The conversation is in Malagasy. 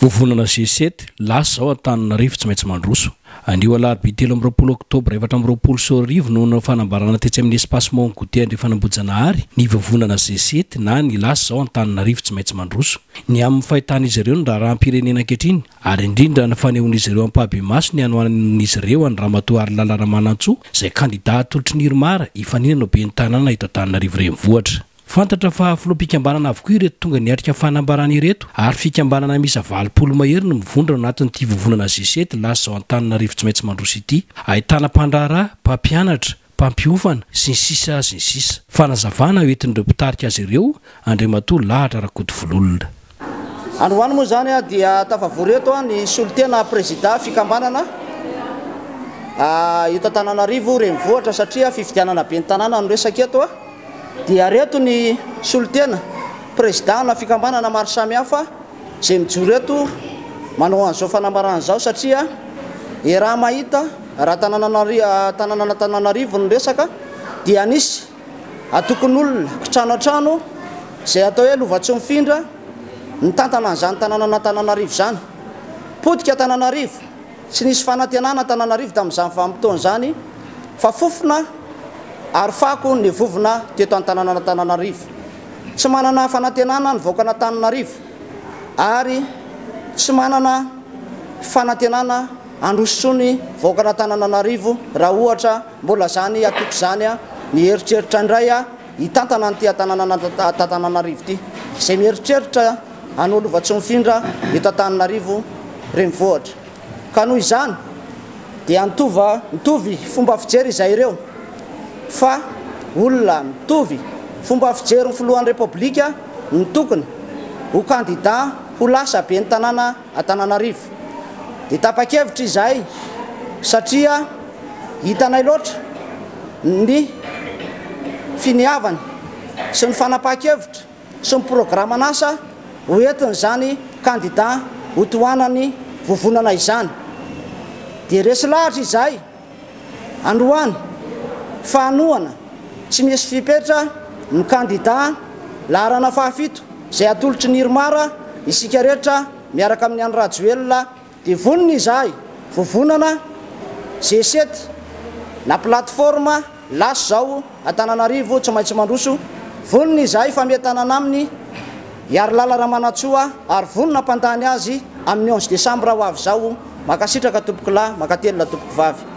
Vovonana G-sept, Lasa izao Antananarivo tsy maintsy mandroso. Anio alarobia telo amby roapolo oktobra efatra amby roapolo sy roa arivo no nanao fanambarana tetsy amin'ny Espace Mont Goûter Andrefan'Ambohijanahary ny vovonana G-sept na ny Lasa izao Antananarivo tsy maintsy mandroso. Ny amin'ny fahitan'izy ireo ny raharaham-pirenena ankehitriny ary indrindra ny fanehoan'izy ireo ampahabe-maso ny hanohanan'izy ireo an'i Ramatoa Harilala Ramanantsoa izay kandida atolotry ny Irmar hifaninana ho ben'ny tanàna eto Antananarivo Renivohitra. Fantatra fa filoham-pikambanana avokoa ireto tonga niatrika fanambarana ireto ary fikambanana miisa valopolo mahery no mivondrona ao anatin'ity vovonana G-sept lasa izao Antananarivo tsy maintsy mandroso ity. Ahitana mpandraharaha, mpampianatra, mpampiofana, sy ny sisa sy ny sisa. Fanazavana hoentin'ireo mpitarika azy ireo, Andriamatoa Lahatra Rakotovololona. Androany moa izany dia tafavory eto ny solontena prezida fikambanana eto Antananarivo renivohitra satria fifidianana ben'ny tanàna no resaka eto dia reto ny solontena prezidana fikambanana maro samihafa izay mijoro eto manao an'izao fanambarana izao satria iaraha-mahita raha tananan'Antananarivo no resaka dia nisy Antokon'olona, kitrano an-trano, izay atao hoe Lovatsimifindra, nitantana an'izany tanànan'Antananarivo izany. Potika Antananarivo, tsy nisy fanantenana Antananarivo tamin'izany vanim-potoana izany, fa fofona ary fako ny vovona teto an-tanànan'Antananarivo. Tsy manana fanantenana ny vahoakan'Antananarivo, ary tsy manana fanantenana handroso intsony vahoakan'Antanananarivo raha ohatra Mbola zany atoko zany a, mieritreritra indray a hitantana an'ity Antananarivo ity. Zay mieritreritra anao Lovatsomifindra eto Antananarivo renivohitra. Ka noho izany dia nitova mitovy fomba fijery izay ireo fa olona mitovy fomba fijery ny filohan'ny Repoblika no tokony ho kandida ho lasa ben'ny tanàna Antananarivo. Dia tapa-kevitra izahay satria hitanay loatra ny finiavany sy ny fanapahan-kevitra sy ny programan'asa ho entin'izany kandida ho tohanan'ny vovonana izany. Dia resy lahatra izahay. Androany, fahanohana tsy misy fipetra ny kandida laharana fahafito izay atolotry ny Irmar, isika rehetra miaraka amin'ny an'i Rajoelina dia vonona izahay, Vovonana, G7 na plateforme, Lasa izao Antananarivo tsy maintsy mandroso, vonona izahay fa mety hanana aminy Hiarilala Ramanantsoa ary vonona hampandany azy amin'ny onze décembre ho avy izao, mankasitraka tompokolahy, mankatelina tompokovavy.